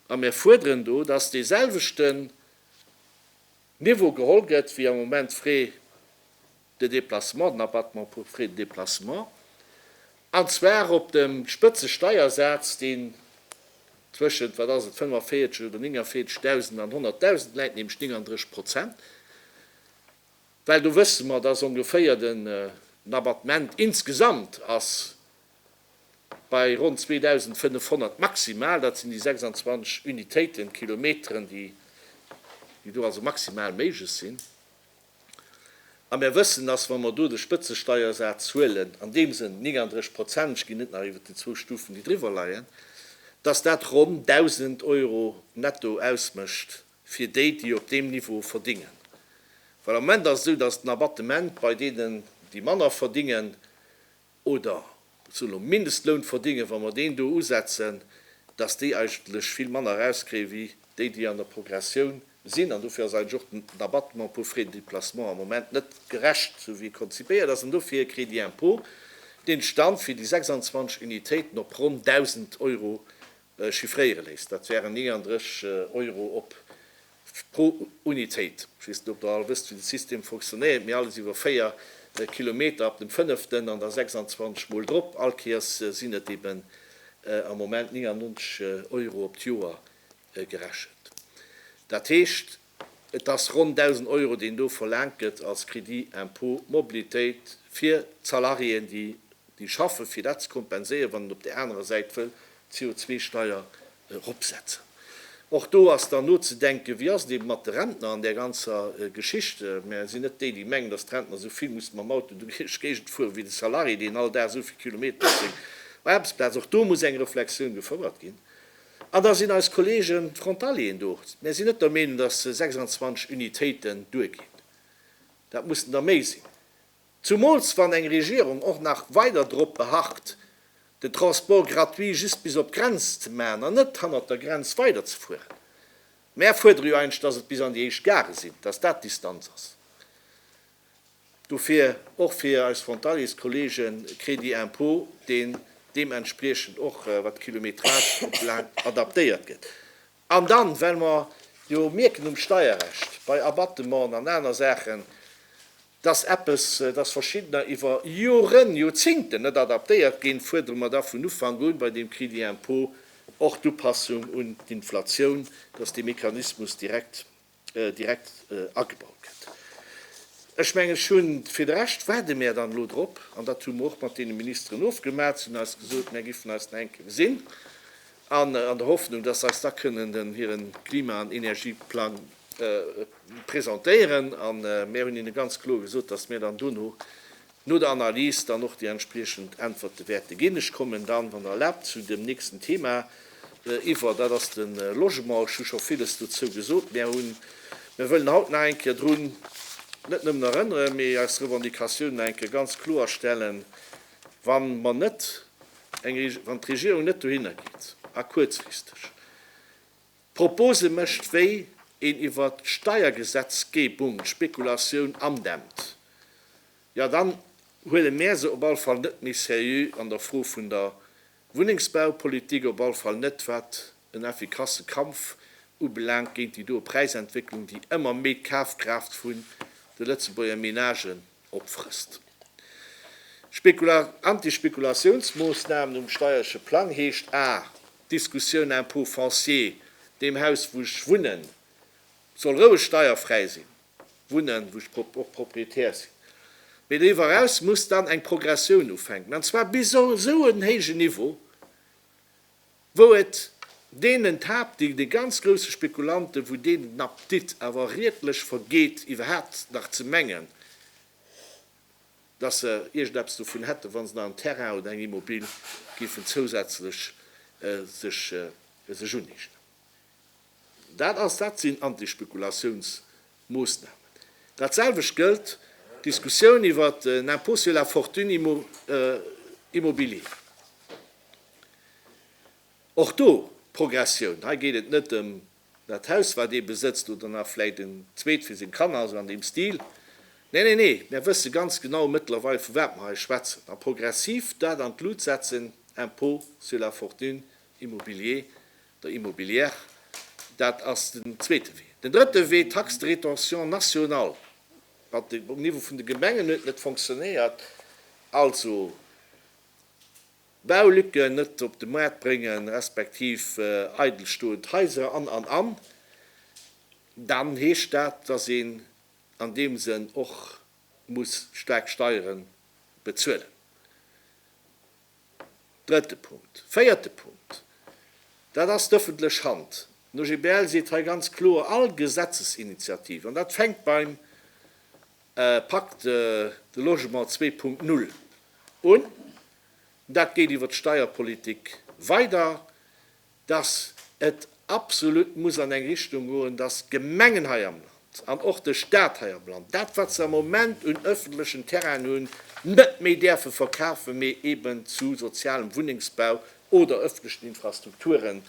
A mär fuerderen do, datt deeselwechten Niveau geholl gëtt, wéi am Moment d'Frais de déplacement, den Abattement pour frais de déplacement, an zwar op dem Spëtzesteiersaz, deen zwëschent, wat ass et, 45 oder 49 Dausend an 100 Dausend läit, nämlech 39 Prozent, well do wësse mer, dass ongeféier den Abattement insgesamt ass bei ronn 2.500 maximal, dat sinn déi 26 Unitéiten, Kilometeren, déi do also maximal méiglech sinn. A mir wëssen, dass, wa mer do de Spëtzesteiersaz huelen, an deem Sënn 39 Prozent, ech ginn net nach iwwert déi zwou Stufen, déi driwwer leien, dass dat ronn 1.000 Euro netto ausmécht fir déi, déi op deem Niveau verdingen. Well am Moment ass et esou, dass den Abattement bei deenen, déi manner verdingen, oder zu no Mindestloun verdingen, wa mer deen do usetzen, dass déi eigentlech vill manner erauskréien, wéi déi, déi an der Progressioun sinn. An dofir ass eigentlech och den Abattement pour frais de déplacement am Moment net gerecht, esou wéi e konzipéiert ass. An dofir e Crédit d'impôt, deen d'Stand fir déi 26 Unitéiten op ronn 1.000 Euro chiffréiere léisst. Dat wären 39 Euro op pro Unitéit. Ech weess net, ob Der all wësst, wéi de System fonctionnéiert, mee alles iwwer 4 Kilometer ab dem fënneften an da 26 Mol drop, allkéiers sinn et eben am Moment 99 Euro op d'Joer gerechent. Dat heescht, Et ass ronn 1.000 Euro, deen do verlaangt gëtt als Crédit impôt mobilitéit fir d'Salariéen, déi déi schaffen, fir dat ze kompenséieren, wann een op där anerer Säit wëll d'CO2-Steier eropsetzen. Och do ass dann nozedenken, Wéi ass et eeben mat de Rentner an där ganzer Geschicht? Mär sinn net déi, déi mengen, datt d'Rentner esou vill musse mam Auto duerch d'Géigend fueren, wéi de Salarié, deen all Dag esou vill Kilometer op seng Aarbechtsplaz. Och do muss eng Reflexioun gefouert ginn. An da sinn eis Kolleegen d'Frontalieren do. Mär sinn net der Meenung, datt se 26 Unitéiten duerginn. Dat mussen der méi sinn. Zumools wann eng Regierung och nach weider drop beharrt, den Transport gratuit just bis op d'Grenz ze maachen an net hannert der Grenz weiderzefueren. Mär fuerdere jo eigentlech, datt et bis an déi éischt Gare sinn, datt dat d'Distanz ass. Dofir och fir eis Frontaliers-Kollege Crédit impôt, deen deementspriechend och, wat d'Kilometrage ubelaangt, adaptéiert gëtt. An dann, well mer jo mierken um Steierrecht, bei Abattementen an aner Saachen, dass eppes, dass Verschiddener iwwer Joren, Joerzingten net adaptéiert ginn, fuerdere mer da vun Ufank un bei deem Crédit impôt och d'Upassung un d'Inflatioun, dass dee Mechanismus direkt direkt agebaut gëtt. Ech mengen, ech hunn fir de Rescht, waarde mär dann elo drop, an dat hu mer och mat deene Ministeren ofgemat, se hunn eis gesot, mär giffen eis nach eng Kéier gesinn, an an der Hoffnung, dass se eis da kënnen den hire Klima an Energieplang presentéieren, a mär hunn hinne ganz kloer gesot, dass mir dann dono No der Analys dann och déi entspriechend Äntwerte wäerte ginn. Ech kommen dann, wann Der erlaabt, zu dem nächsten Thema iwwer, dat ass de Logement. Ech hu scho villes dozou gesot. Mär hunn, mär wëllen haut nach eng Kéier drun net nëmmen erënneren, mee eis Revendicatiounen nach eng Kéier ganz kloerstellen, wa mer net eng, wann d'Regierung net dohinner geet a kuerzfristeg, Propose mécht, wéi een iwwert d'Steiergesetzgebung d'Spekulatioun andämmt, jo dann huele mär se op alle Fall net méi seriö an der Fro vun der Wunnengsbaupolitik, op alle Fall net wat en effikasse Kampf ubelaangt géint déi doe Präisentwécklung, déi ëmmer méi d'Kafkraaft vun de Lëtzebuerger Menagen opfrësst. Anti-Spekulatiounsmoossnamen um steierleche Plang heescht a. Diskussioun Impôt foncier, deem Haus wou ech wunnen, soll roueg steierfräi sinn, wunnen, wou ech och Propriétaire sinn, mee doriwwer eraus muss dann eng Progressioun ufänken, an zwar bis esou en héijen Niveau, wou et deenen Tab, déi de ganz grousse Spekulanten, wou deenen den Appetit awer riedlech vergeet iwwerhaapt nach ze mengen, dass se iergendeppes dovun hätten, wa se nach en Terrain oder eng Immobil géifen zousätzlech sech sech uneegnen. Dat ass, dat sinn Antispekulatiounsmoossnamen. Dat selwecht gëllt, d'Diskussioun iwwer den Impôt sur la fortune immo immobilier. Och do, Progressioun, hei geet et net ëm Dat Haus, wat ee besëtzt, oder nach vläit en zweet fir seng Kanner, esou an deem Stil. Nee, nee, nee, mär wësse ganz genau mëttlerweil, vu wat mer hei schwätzen. A progressiv dat an d'Lut setzen, Impôt sur la fortune immobilier oder immobilière, dat ass den zweete Wee. Den drëtte Wee, Taxe de rétention nationale, wat um Niveau vun de Gemengen huet net fonctionnéiert, also, Baulücken net op de Maart bréngen, respektiv eidelstoend Haiser an, an, an, dann heescht dat, dass een an deem Sënn och muss staark Steiere bezuelen. Drëtte Punkt. Véierte Punkt, dat ass d'öffentlech Hand. Den OGBL seet hei ganz kloer, all Gesetzesinitiativ, an dat fänkt beim Pacte de logement 2.0 un. Dat geet iwwer d'Steierpolitik weider, dass et absolut muss an eng Richtung goen, dass d'Gemengen hei am Land an och de Stat hei am Land dat, wat se am Moment un öffentlechen Terrainen hunn, net méi däerfe verkafen, mee eeben zu sozialem Wunnengsbau oder öffentlechen Infrastrukture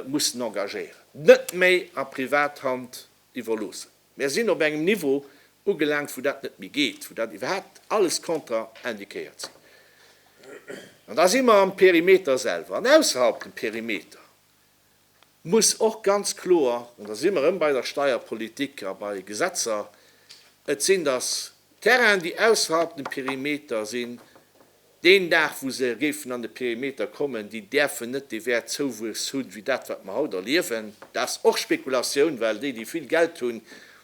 mussen engagéieren, net méi a Privathand iwwerloossen. Mär sinn op engem Niveau ugelaangt, wou dat net méi geet, wou dat iwwerhaapt alles kontra-indiquéiert sinn. An da si mer am Perimeter selwer. An ausserhalb dem Perimeter muss och ganz kloer, an da si mer erëm bei der Steierpolitik a bei Gesetzer, et sinn dass Terrainen, déi ausserhalb dem Perimeter sinn, Deen Dag, wou se géifen an de Perimeter kommen, déi däerfen net dee Wäert Zouwuess hunn, wéi dat, wat mer haut erliewen. Dat ass och Spekulatioun, well déi, déi vill Geld hunn,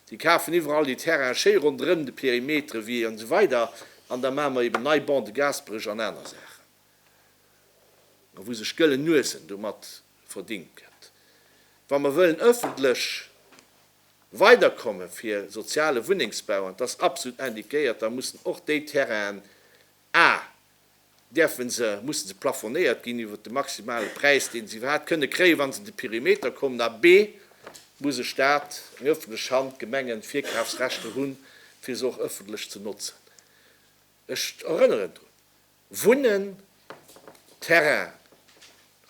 déi kafen iwwerall déi Terrainen schéi ronderëm de Perimetere wie an esou weider an da maache mer eben nei Bancs de Gaasperech an aner Saachen, a wou sech gëllen Nuesen domat verdingt gëtt, wa mer wëllen ëffentlech. Weiderkomme fir soziale Wunnengsbau, an et ass absolut indiquéiert, da mussen och déi Terrainen, a däerfe se, musse se plafonéiert ginn iwwert de maximale Präis, dee se iwwerhaapt kënne kréien, wa se an de Perimeter kommen, a b muss e Staat, eng öffentlech Hand, Gemengen, Virkafsrechter hunn, fir se och öffentlech ze notzen. Ech erënneren drun. Wunnen, Terrain,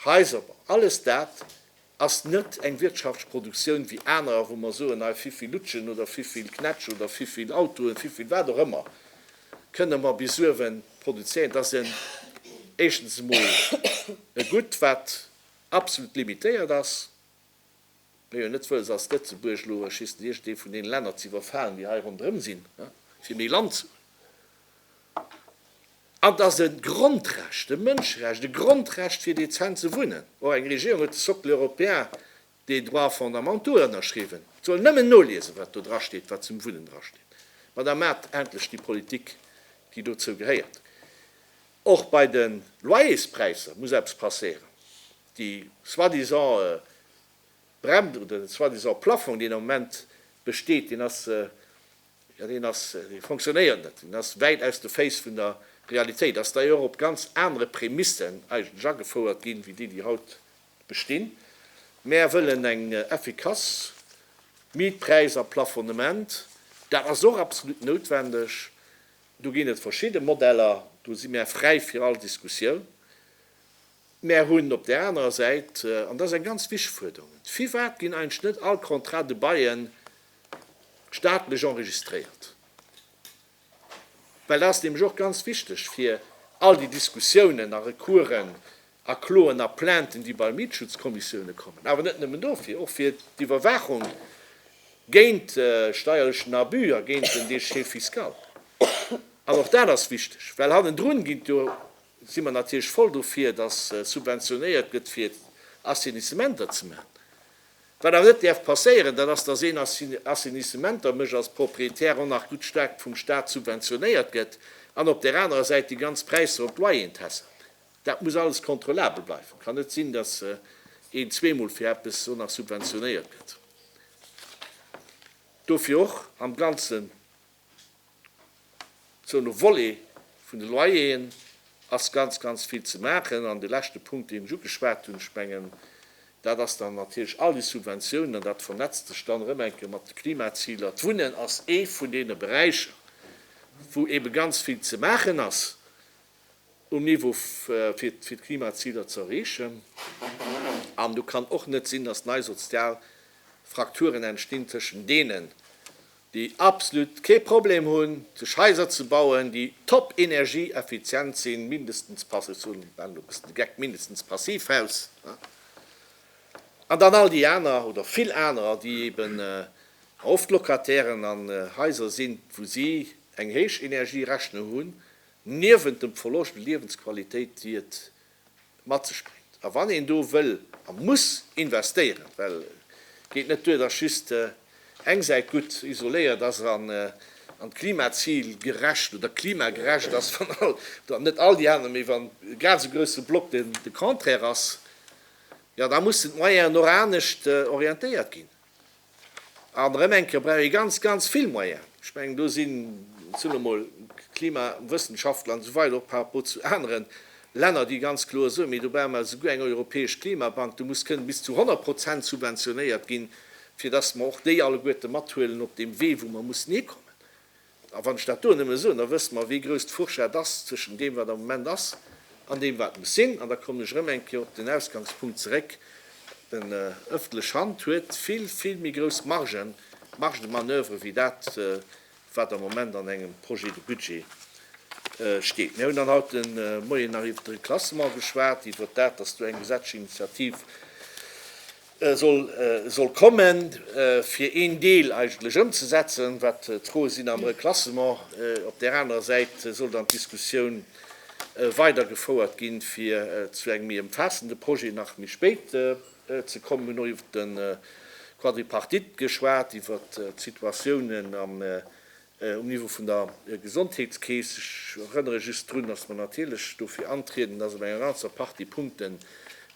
Haiser, alles dat ass net eng wirtschaftsch Produktioun wéi anerer, wou mer soen, hei vivill Lutschen oder vivill Knätsch oder vivill Autoen, vivill wat och ëmmer kënne mer bis uewe produzéieren. Dat ass en, éischtens emol e Goût, wat absolut limitéiert ass. Mee jo net wëlls als Lëtzebuerg elo schlissen iergendee vun deene Länner ze iwwerfalen, déi hei ronderëm sinn, fir méi Land ze hunn. An et ass e Grondrecht, e Mënscherecht, e Grondrecht fir dezent ze wunnen. Och eng Regierung huet de Socle européen des droits fondamentaux ënnerschriwwen. Et soll nëmmen noliesen, wat do drasteet, wat zum Wunnen drasteet. Ma da maacht endlech déi Politik, déi dozou gehéiert. Och bei de Loyerspräisser muss eppes passéieren. Déi soi-disant Bremse oder den soi-disant Plafong, deen am Moment besteet, deen ass, jo, deen ass, dee fonctionnéiert net, deen ass wäit aus de Féiss vun der Realitéit, ass d'ailleurs op ganz anere Prämissen eigentlech agefouert ginn, wéi déi, déi haut bestinn. Mär wëllen eng effikass Mietpräis a Plafonnement. Dat ass och absolut noutwendeg. Do ginn et verschidde Modeller, do si mär fräi fir all Diskussioun. Mär hunn op där anerer Säit, an dat ass eng ganz wichteg Fuerderung, firwat ginn eigentlech net all Contrats de bail staatlech enregistréiert? Well dat ass nämlech och ganz wichteg fir all déi Diskussiounen a Recoursen a Kloen a Plainten, déi bei Mietschutzkommissioune kommen, awer net nëmmen dofir, och fir d'Iwwerwaachung géint steierlechen Abus a géint den Déchet fiscal. An och dat ass wichteg, well hannendrun ginn d'jo si mer natierlech voll dofir, dass subventionéiert gëtt fir Assainissementer ze maachen. Wat awer net däerf passéieren, dat ass, dass een Assainissementer mécht als Propriétaire an nach gutt staark vum Staat subventionéiert gëtt an op där anerer Säit déi ganz Präisser op d'Loyeren tässelt. Dat muss alles kontrollabel bleiwen. Et kann net sinn, dass een zweemol fir eppes och nach subventionéiert gëtt. Dofir och am Ganzen. Sou no Volet vun de Loyeren ass ganz, ganz vill ze maachen. An de leschte Punkt, deen ech ugeschwat hunn, ech mengen, dat ass dann natierlech all déi Subventiounen, an dat vernetzt sech dann erëm eng Kéier mat de Klimaziler. D'Wunnen ass ee vun deene Beräicher, wou eebe ganz vill ze maachen ass um Niveau, fir d'Klimaziler ze erreechen. An do kann och net sinn, datt nei sozial Frakturen entstinn tëschent deenen, déi absolut kee Problem hunn, sech Haiser ze bauen, déi top energieeffizient sinn, mindestens passi-, ech waren elo e bëssen de Geck, mindestens Passivhaus, ne, an dann all déi aner oder vill anerer, déi eben oft Locatairen an Haiser sinn, wou si eng héich Energierechnung hunn, niewent dem Verloscht u Liewensqualitéit, déi et mat sech bréngt. A wann een do wëll a muss investéieren, well et geet net duer, dass just eng Säit gutt isoléiert ass an d'Klimazil gerecht oder klimagerecht ass, wann all, oder net all déi aner, mee wann e grad esou grousse Block de Contraire ass, jo da mussen d'Moyennen och anescht orientéiert ginn. An erëm eng Kéier brauch ee ganz, ganz vill Moyen. Ech mengen, do sinn zunn emol d'Klimawëssenschaftler an esou weider och par rapport zu anere Länner, déi ganz kloer soen, mee do brauche mer esouguer eng europäesch Klimabank, do muss kënnen bis zu 100 Prozent subventionéiert ginn, fir datt mer och déi alleguerte mathuelen op deem Wee, wou mer mussen hikommen. A wann ech dat do nëmme soen, da wësst mer, wéi grouss d'Fourchette ass zwëschen deem, wat am Moment ass, an deem, wat muss sinn. An da kommen ech erëm eng Kéier op den Ausgangspunkt zeréck, Déi ëffentlech Hand huet vill, vill méi grouss Margen, marge de manoeuvre, wéi dat, wat am Moment an engem Projet de budget steet. Mir hunn dann haut de Moien nach iwwert de Reklassement geschwat, iwwert dat, dass do eng Gesetzesinitiativ soll kommen, fir een Deel eigentlech ëmzesetzen, wat d'Froe sinn am Reklassement. Op där anerer Säit soll dann d'Diskussioun weidergefouert ginn, fir zu engem méi ëmfaassende Projet nach méi spéit ze kommen. Mir hunn och iwwer de Quadripartite geschwat, iwwer d'Situatiounen am Um Niveau vun der Gesondheetskeess, ech erënnere just drun, dass mer natierlech dofir antrieden, dass op enger ganzer Partie Punkten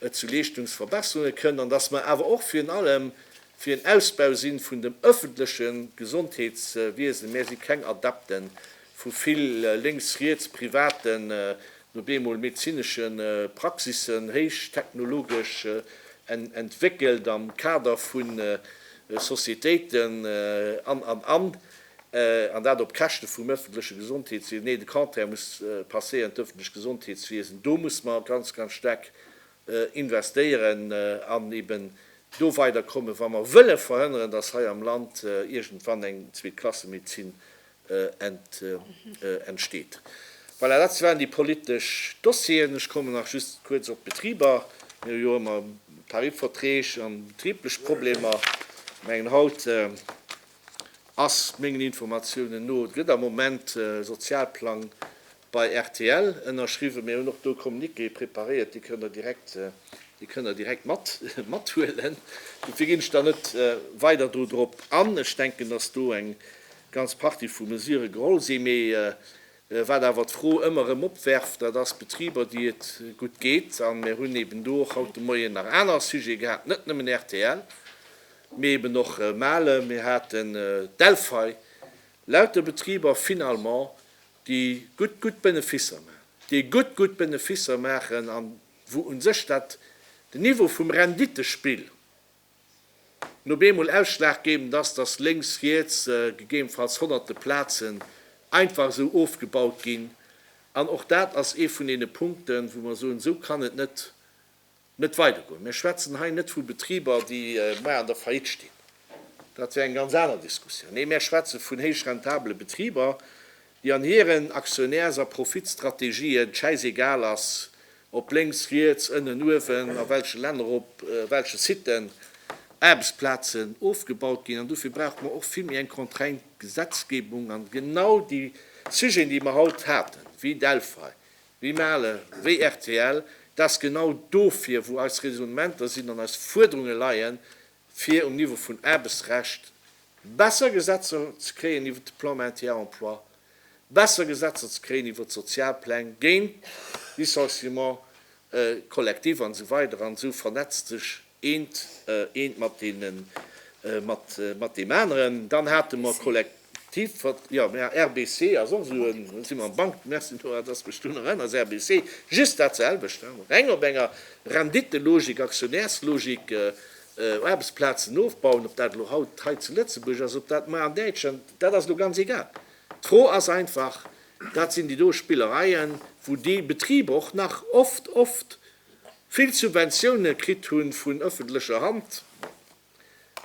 et zu Leeschtungsverbesserunge kënnt an dass mer awer och virun allem fir en Ausbau si vun dem ëffentleche Gesondheetswiesen. Mär si keng Adepte vu vill lénks-riets privaten no bemol medezinesche Praxissen, héich technologesch entwéckelt am Kader vu Societéiten an, an, an, an dat op Käschte vum ëffentleche Gesondheetswiesen. Nee, de Contraire muss passéieren, d'ëffentlech Gesondheetswiesen, do muss mer ganz, ganz staark investéieren an eben do weiderkommen, wa mer wëlle verhënneren, dass hei am Land iergendwann eng Zweetklassemedezin entsteet. Voilà, dat waren déi politesch Dossieren. Ech kommen nach just kuerz op d'Betriber. Mir hu jo ëmmer Tarifverträg an betriblech Problemer. Ech mengen, haut ass mengen Informatiounen no, et gëtt am Moment e Sozialplang Bei rtl ënnerschriwwen. Mir hunn och do Communiqué preparéiert, déi kënnt Der direkt, déi kënnt Der direkt mat, mathuelen. Dofir ginn ech da net weider do drop an. Ech denken, dass do eng ganz Partie vu Mesurë geholl sinn. Mee wat awer d'Fro ëmmer erëm opwerft, dat ass Betriber, déi et gutt geet. A mir hunn eeben do och haut de Moien nach aner Sujete gehat, net nëmmen rtl, mee eeben och Mahle, mir haten Delphi, lauter Betriber finalement, déi gutt, gutt Beneficer maachen, déi gutt, gutt Beneficer maachen a wou u sech dat, den Niveau vum Renditespill no beemol ausschlaggebend ass, dass lénks, riets gegebenfalls honnerte Plazen einfach esou ofgebaut ginn. An och dat ass ee vun deene Punkten, wou mer soen, esou kann et net net weidergoen. Mir schwätzen hei net vu Betriber, déi muer an der Faillite stinn, dat wär eng ganz aner Diskussioun. Nee, mir schwätze vun héich rentabele Betriber, déi an hiren Aktionärs a Profitstrategien d'Schäiss-egal ass, ob lénks, riets, ënnen, uewen, a welche Länner, op welche Siten Aarbechtsplazen ofgebaut ginn. An dofir brauche mer och vill méi eng contraigned Gesetzgebung. An genau déi Sujeten, déi mer haut haten, wéi Delphi, Wéi Mahle, wéi rtl, dat ass genau dofir, wou eis Raisonnementer sinn an eis Fuerderunge leien, fir um Niveau vun Aarbechtsrecht besser Gesetzer ze kréien iwwert de Plan Maintien à Emploi, besser Gesetzer ze kréien iwwert d'Sozialpläng, géint Licenciement collectif an esou weider. An esou vernetzt sech eent eent mat deenen mat mat deem aneren dann hate mer Kollek tiv wat jo mär ha RBC ass och esou en si mer am Bank merci Nora dass mech du nach ënners RBC just dat selwecht ha mer reng op enger Renditelogik Aktionärslogik Aarbechtsplazen ofbauen ob dat elo haut hei zu Lëtzebuerg ass ob dat mar an Däitschland dat ass elo ganz egal d'Fro ass einfach dat sinn déi do Spillereien wou déi Betriber och nach oft oft vill Subventioune kritt hu vun ëffentlecher Hand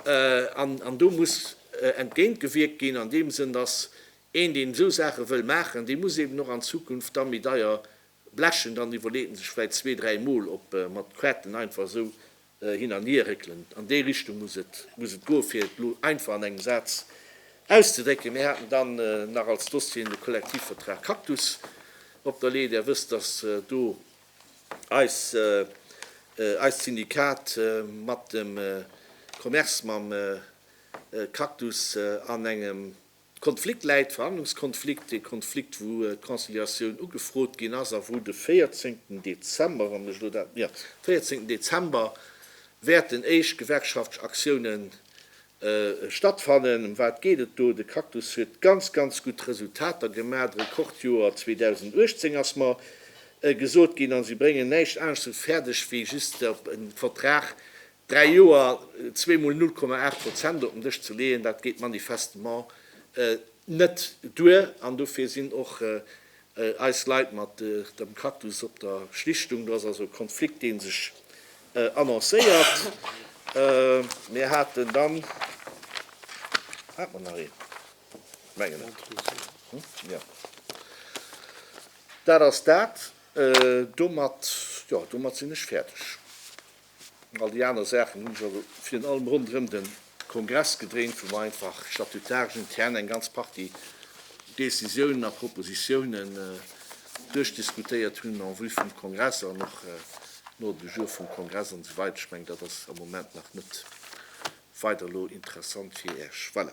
an do muss entgéint gewierkt ginn. An deem Sënn ass een, deen esou Saache wëll maachen, dee muss eeben och an Zukunft da méi deier blechen, dann iwwerleet en sech vläicht zwee, dräi Mol, ob mat Quêten einfach esou hin an hier réckelen. An déi Richtung muss et, muss et goen, fir et elo einfach an engem Saz auszedrécken. Mir haten dann nach als Dossieren de Kollektivvertrag Cactus op der Lee. Där wësst, dass do eis, eist Syndikat mat dem Commerce, mam Cactus an engem, Konflikt läit, Verhandlungskonflikt, dee Konflikt wou d'Conciliatioun ugefrot ginn ass a wou de 14 Dezember, wann ech elo dat, jo, 14 Dezember wäerten éischt gewerkschaftlech Aktiounen stattfannen. Em wat geet et do? De Cactus huet ganz, ganz gutt Resultater gemaach, d'Rekordjoer 2018 ass mer gesot ginn, a si bréngen näischt anescht esou fäerdeg wéi just op e Vertrag Dräi Joer, zwee Mol 0,8 Prozent op den Dësch ze leeën, dat geet manifestement net duer. An dofir sinn och eis Leit mat dem Cactus op der Schlichtung. Do ass also e Konflikt, dee sech annoncéiert. Mir haten dann, hat mer nach een? Mengen net, jo, dat ass dat. Domat, jo, domat sinn ech fäerdeg. All déi aner Saachen hunn sech also virun allem ronderëm de Kongress gedréint, wou mer einfach statutaresch intern eng ganz Partie Decisiounen a Propositiounen duerchdiskutéiert hunn en vue vum Kongress an och no de Jours vum Kongress an esou weider. Ech mengen, dat ass am Moment nach net weider elo interessant fir Iech. Voilà.